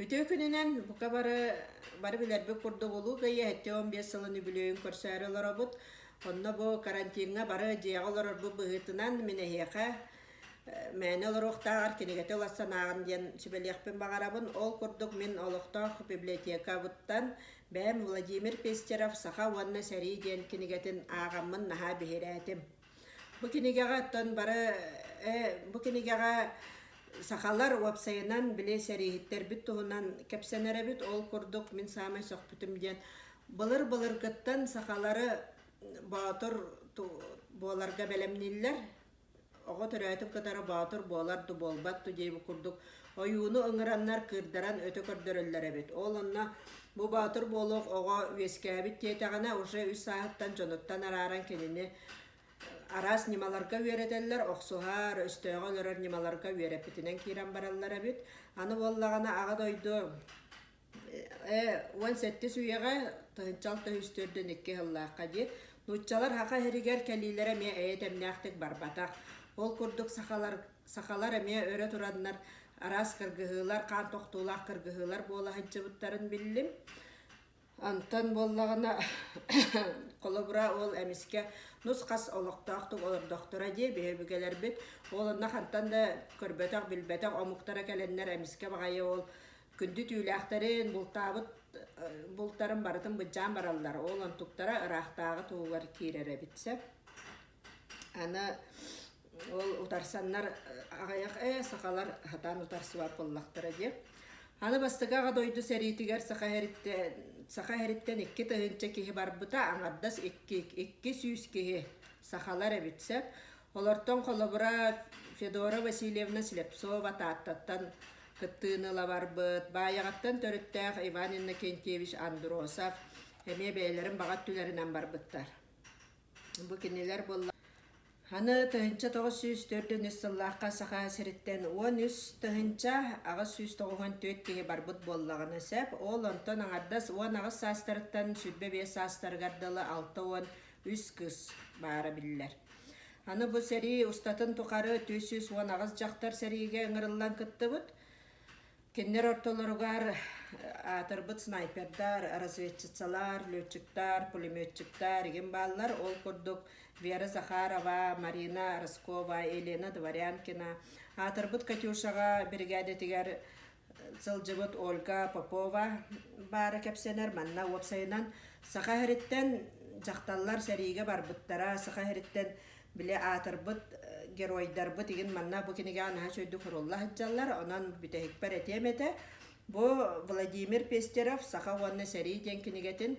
Үтүө күнүнэн бука бары бары билэрбит курдук улуу кыйыһэттэ он биэс сылын үбүлүөйүн көрсөөрү олоробут. Онно бу карантиҥҥа бары дьиэҕэ олорорбут быһыытынан мин эһиэхэ мээнэ олоруохтааҕар кинигэтэ ылас санааҕын диэн сүбэлиэхпин баҕарабын. Ол курдук мин олохтоох библиотекабыттан бэйэм Владимир Пестеров «Саха уонна сэрии» диэн кинигэтин ааҕаммын наһаа биһирээтим. Бу кинигэҕэ оттон бары бу кинигэҕэ сахалар уопсайынан били сэрииһиттэрбит туһунан кэпсэнэрэбит ол курдук мин саамай сөхпүтүм диэн былыр-былыргыттан сахалары боотур буоларга бэлэмнииллэр оҕо төрөөтүн кытары боотур буолар да буолбат да дии курдук Ойууну ыҥыраннар кыырдаран өтө көрдөрөллөр эбит. Ол онно бу боотур буолуох оҕо үөскээбит диэтэҕинэ уже үс сааһыттан дьонуттан арааран кинини араас ньымаларга үөрэтэллэр, охсуһар, өстөөҕө олорор ньымаларга үөрэппитинэн киирэн бараллар эбит. Аны буоллаҕына аҕа дойду Ээ, уон сэттис үйэҕэ тыһынчал тыһыс төрдөн икки сыллаахха дии, нууччалар саха иһэригэр кэлиилэрэ эмиэ эйэ тэмнээхтик барбатах. Ол курдук сахалар сахалар эмиэ өрө тураннар араас кыргыһыылар, хаан тохтуулаах кыргыһыылар буола сылдьыбыттарын биллим. Онтон буоллаҕына холобура ол эмискэ нус-хас олохтоохтук олордохторо дии биһирбикэлэрбит. Ол онно хантан да көрбөтөх-билбэтэх омуктара кэлэннэр эмискэ баҕайы ол күндү түүлээхтэрин, бултаабыт бултарын барытын быдьаан бараллар. Ол онтуктара ыраахтааҕы туһугар киирэр эбит сөп. Аны ол утарсаннар аҕыйах ээ сахалар хатаан утарсыбат буоллахтара диэн. Аны бастакы аҕа дойду сэриитигэр саха эриттэн саха эриттэн икки тыһыынча киһи барбыта, аҥардас икки, икки сүүс киһи сахалар эбит сөп. Олортон холобура Федора Васильевна Слепцова Тааттаттан кыттыыны ыла барбыт, Баайаҕаттан төрүттээх Иван Иннокентьевич Андросов эмиэ бэйэлэрин баҕа өттүлэринэн барбыттар. Бу кинилэр буолла. Аны тыһынча тоҕус сүүс төрдүн үс сыллаахха Саха сириттэн уон үс тыһынча аҕыс сүүс тоҕуһун түөрт киһи барбыт буоллаҕына сөп. Ол онтон аҥардас уон аҕыс саастарыттан сүүрбэ биэс саастарыгар дылы алта уон үс кыыс баара биллэр. Аны бу сэрии устатын тухары түс сүүс уон аҕыс дьахтар сэриигэ ыҥырыллан кыттыбыт. Кинилэр ортолоругар аатырбыт снайпердар, разведчицалар, летчиктар, пулеметчиктар игин бааллар. Ол курдук Вера Захарова, Марина Роскова, Елена Дворянкина аатырбыт Катюшаҕа биригээдэтигэр сылдьыбыт Ольга Попова баара кэпсэнэр. Манна уопсайынан Саха сириттэн дьахталлар сэриигэ барбыттара. Саха сириттэн били аатырбыт геройдарбыт игин манна бу кинигэҕэ наһаа үчүгэйдик сурулла сылдьаллар. Онон бүтэһикпэр этиэм этэ. Бу Владимир Пестерев Саха уонна сэрии диэн кинигэтин